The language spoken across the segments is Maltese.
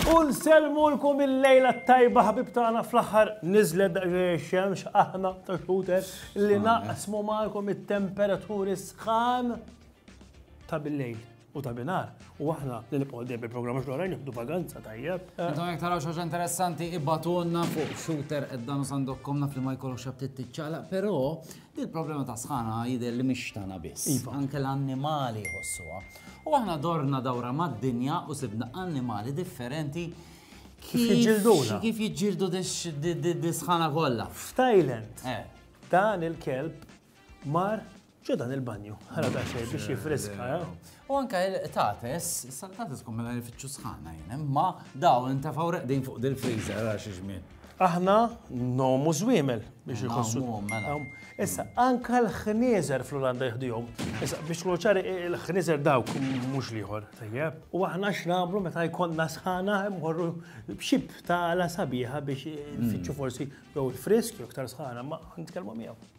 U nselmulkom il-lejla t-tajba ħabib tagħna fl-aħħar niżlet daqsxejn xemx aħna ta' xhuter li naqsmu magħkom it-temperaturi sħan ta' bil-lejl. U ta' binar, u aħna li nibqgħu dejjem bil-programm xogħol rajn nieħdu vaganza tajjeb. Intom jekk taraw xi interessanti ibatulna fuq shooter qed dan sandokkom naf li ma jkollokx abtit tiċċaqlaq, però il-problema ta' sħana jidher li mhix tagħna biss. Iva. Anke l-annimali jħossuha. U aħna dorna dawra mad-dinja u sibna annimali differenti Kif jiġġilduna? Kif jiġġildu dis-sħana kollha? F'Thailand, eh. dan il-kelb mar X'hu dan il-banju? Ħala daqsxejn biex jiffriska, eh? U anke il-qtates, is-saltates kum mela jfittxu sħana jien, imma daw intefgħu reqdin fuq dil-friżer għal xi żmien. Aħna nomu żwiemel biex iħossu. Mela. Issa, anke l-ħnieżer fl-Olanda jħdihom. Issa, biex tkunu ċari, il-ħnieżer dawk mhux liħor, tajjeb. U aħna x'nagħmlu meta jkollna sħana mmorru b'xib ta' la sabiħa biex nfittxu hmm. forsi jew il-frisk jew iktar sħana ma nitkellmu miegħu.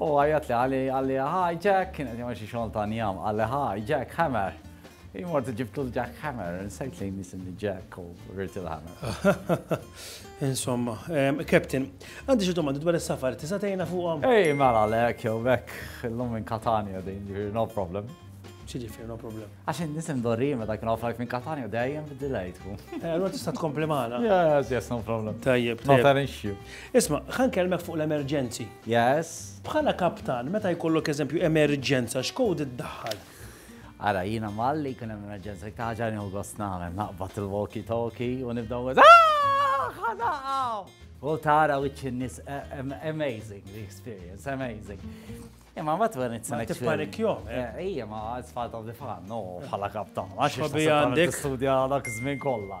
U għajat li għalli għalli hi Jack, kienet jgħamil xie xogħol ta' njam, għalli hi Jack Hammer. Imort ġibtu l-Jack Hammer, nsejt li nisimni Jack u rrit il-Hammer. Insomma, Captain, għandi xie domandi dwar il-safar, tisa tejna fuqom? Ej, mela lek, jow bek, l-lum minn Katania din, no problem. ċiġifir, no problem. Għaxin nisim dorri meta kien offrajt minn Katania dejjem bid-delay tkun. Eh, allora tista' tkompli magħna. Yes, yes, no problem. Tajjeb, tajjeb. Not an issue. Isma, ħan kelmek fuq l-emerġenzi. Yes. Bħala kaptan, meta jkollok eżempju emerġenza, x'code iddaħħal? Ara, jiena mal li jkun hemm emerġenza, dik ta' ħaġa nieħu gost nagħmel, naqbad il-walkie-talkie u nibda nwiz. Ħadaqgħu! U tara wiċċ in-nies amazing the experience, amazing. Imma ma twern it Ma tippanikjom. Ija, ma it's part of the fun, no, bħala kaptan. Għax għandek studja dak żmien kollha.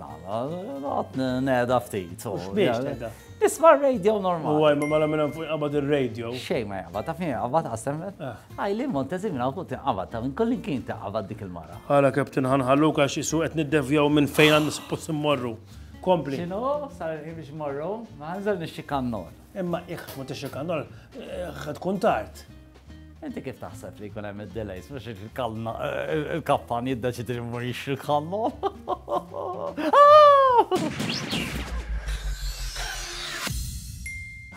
Noqgħod neda ftit. U x'biex tgħidha? Isma' r-radio normali. U għajma mela minn fuq inqabad ir-radio. Xejn ma jaqbad, taf min jaqbad qasem. Għaj li l-Montezi minn fuq tinqabad, ta' minn kollin kien tinqabad dik il-mara. Għala Captain ħanħalluk għax isu qed niddevjaw minn fejn għandna suppost immorru. Kompli. X'inhu sar il-ħin biex immorru? Ma ħanżel nixxi kannol. Imma ikħ ma tixxi kannol, tkun tard. Inti kif taħseb li jkun hemm id-delays biex il-kalna il-kappan jiddeċidi li ma jixri l-kallu?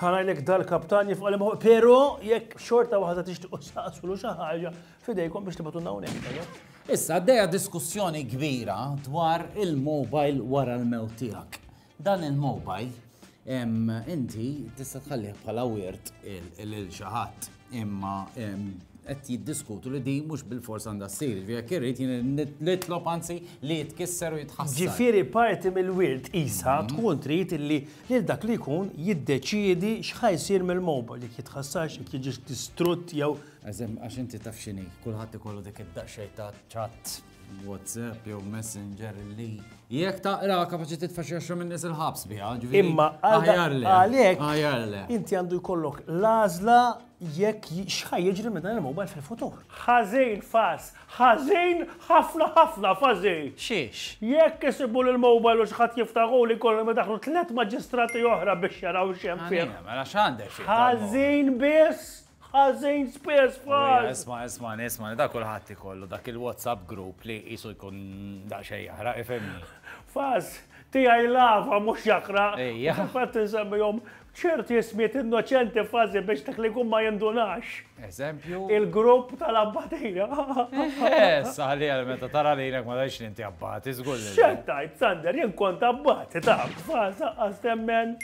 ħarajlek dal-kaptan jifqa li maħu, pero jekk xorta waħda tixtiqu saqsulu xi ħaġa fidejkom biex tibgħatu hawnhekk. Issa għaddejja diskussjoni kbira dwar il-mobile wara l-mewt tiegħek. Dan il-mobile inti tista' tħallih bħala wirt lil xi ħadd, imma qed jiddiskutu li din mhux bil-fors għandha ssir, jekk irrid jien nitlob anzi li jitkisser u jitħassar. Ġifieri parti mill-wirt qisha tkun trid illi lil dak li jkun jiddeċiedi x'ħa jsir mill-mobile, jekk jitħassarx, jekk jiġix distrutt jew. Għax inti taf x'inhi, kulħadd ikollu dik id-daqsxejn ta' ċatt. WhatsApp jew Messenger li jekk taqra kapaċi titfa' xi għaxra minn nies il-ħabs biha. Imma għalhekk inti għandu jkollok l-għażla jekk xħaj jiġri minn dan il-mobile fil-futur. Ħażin fas, ħażin ħafna ħafna fażin. Xiex? Jekk isibu l-mobile u xħat jiftaħu li kollu ma daħlu tliet maġistrati oħra biex jaraw xem fih. Mela x'għandek? Ħażin biss Ħażin Spurs f'Ħal! Isma' isma' isma' dak kulħadd ikollu dak il-WhatsApp group li qisu jkun daqsxejn jaħraq ifhimni. F'każ tiegħi l-għafa mhux jaħraq. Ejja. Fil-fatt insemmihom ċerti ismijiet innoċenti f'każi biex dak li jkun ma jindunax. Eżempju? Il-grupp tal-Abbatija. Issa ħalliha meta tara lilek ma tgħidx li inti Abbati, żgur li le. X'qed tgħid, Sander, jien kont Abbati taf, f'każ aqqas temmen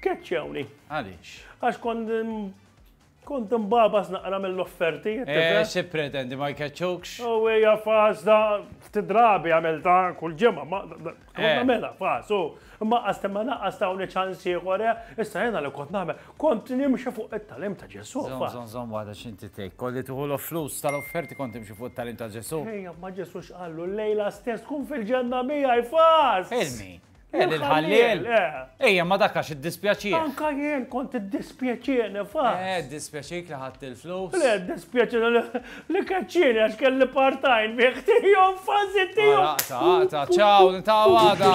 keċċewni. Għaliex? Għax kont Kont imbabas naqra mill-offerti. Eh, xi pretendi ma jkeċċukx? U oh, hija faż da tidrabi għamilta kull ġimgħa, ma eh. mela faż u imma qastem ma naqqas ta' uni ċans ieħor eh, issa jiena li kont nagħmel kont nimxi fuq it-talim ta' Ġesu. Żomm żomm waħda x'inti tgħid, kolli tuħu l-flus tal-offerti kont nimxi fuq it-talim ta' Ġesu. Ejja, ma Ġesu x'qallu lejla stess kun fil-ġenna miegħi faż. Ilmi. Eh, l-ħallil. Eh. Ejja, ma dakax id-dispjaċir. Anka jien kont id-dispjaċir, fa. Eh, id-dispjaċir li ħadd il-flus. Le, id-dispjaċir li kaċċini għax kelli partajn bieħ tijom fazi tijom. Ta' ta' ta' ċaw, ta' għada.